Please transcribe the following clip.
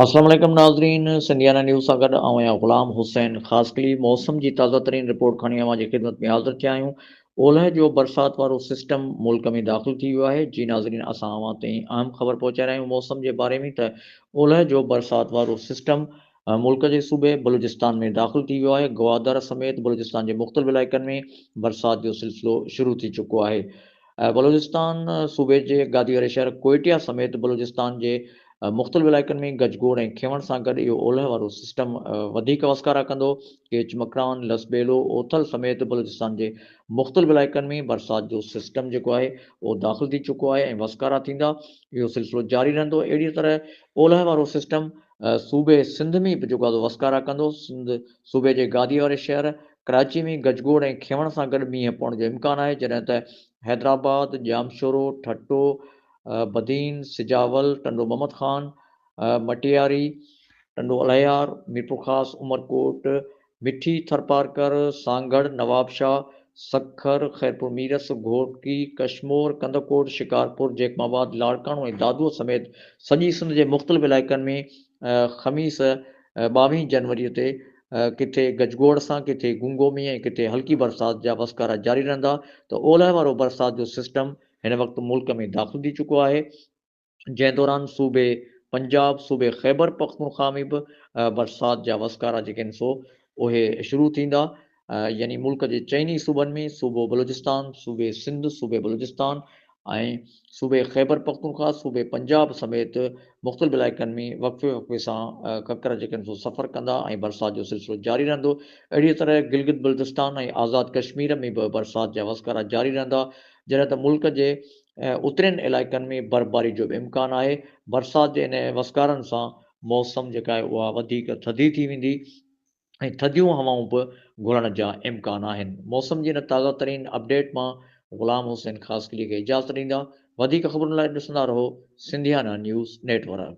اسلام عليڪم ناظرين سنڌيانا نيوز سان گڏ آئون آهيان غلام حسين خاصخيلي موسم جي تازه ترين رپورٽ کڻي اوهان جي خدمت ۾ حاضر ٿيا آهيون اولهه جو برسات وارو سسٽم ملڪ ۾ داخل ٿي ويو آهي جي ناظرين اسان اوهان تائين اهم خبر پهچائي رهيا آهيون موسم جي باري ۾ ته اولهه جو برسات وارو سسٽم ملڪ جي صوبي بلوچستان ۾ داخل ٿي ويو آهي، گوادر سميت بلوچستان جي مختلف علائقن ۾ برسات جو سلسلو شروع ٿي چڪو آهي، بلوچستان صوبي جي گادي واري شهر ڪوئٽيا سميت بلوچستان جي مختلف علائقن ۾ گج گوڙ ۽ کينوڻ سان گڏ اهو اولهه وارو سسٽم وڌيڪ وسڪارا ڪندو، ڪيچ مڪران، لس ٻيلو، اوٿل سميت بلوچستان جي مختلف علائقن ۾ برسات جو سسٽم جيڪو آهي اهو داخل ٿي چڪو آهي ۽ وسڪارا ٿيندا، اهو سلسلو جاري رهندو، اهڙيء طرح اولهه وارو سسٽم صوبي سنڌ ۾ به جيڪو آزو وسڪارا ڪندو. سنڌ صوبي جي گاديء واري شهر ڪراچي ۾ گجگوڙ ۽ کينوڻ سان گڏ مينهن پوڻ جو امڪان آهي، جڏهن ته حيدرآباد، ڄامشورو، ٺٽو، بدين، سجاول، ٽنڊو محمد خان، مٽياري، ٽنڊو الهيار، ميرپورخاص، عمرڪوٽ، مٺي، ٿرپارڪر، سانگهڙ، نوابشاهه، سکر، خيرپور ميرس، گهوٽڪي، ڪشمور، ڪنڌڪوٽ، شڪارپور، جيڪب آباد، لاڙڪاڻو ۽ دادوء سميت سڄي سنڌ جي مختلف علائقن ۾ خميس ٻاوهين جنوري تي ڪٿي گجگوڙ سان ڪٿي گونگو مينهن ۽ ڪٿي هلڪي برسات جا وسڪارا جاري رهندا ته اولهه وارو برسات جو سسٽم هن وقت ملڪ ۾ داخل ٿي چڪو آهي جنهن دوران صوبي پنجاب، صوبي خيبر پختونخوا ۾ به برسات جا وسڪارا جيڪي آهن سو اهي شروع ٿيندا يعني ملڪ جي چئن ئي صوبن ۾ صوبو بلوچستان، صوبي سنڌ، صوبي بلوچستان ۽ صوبي خيبر پختونخوا، صوبي پنجاب سميت مختلف علائقن ۾ وقفي وقفي سان ڪڪر جيڪي آهن سو سفر ڪندا ۽ برسات جو سلسلو جاري رهندو اهڙيء طرح گلگت بلتستان ۽ آزاد ڪشمير ۾ به برسات جا وسڪارا جاري رهندا جڏهن ته ملڪ جي ۽ اترين علائقن ۾ برفباري جو به امڪان آهي، برسات جي انهن وسڪارن سان موسم جيڪا آهي اها وڌيڪ ٿڌي ٿي ويندي ۽ ٿڌيون هوائون به گهرڻ جا امڪان آهن، موسم جي هن تازه ترين اپڊيٽ مان غلام حسين خاصخيلي کي اجازت ڏيندا، وڌيڪ خبرن لاء ڏسندا رهو سنڌيانا نيوز نيٽ ورڪ.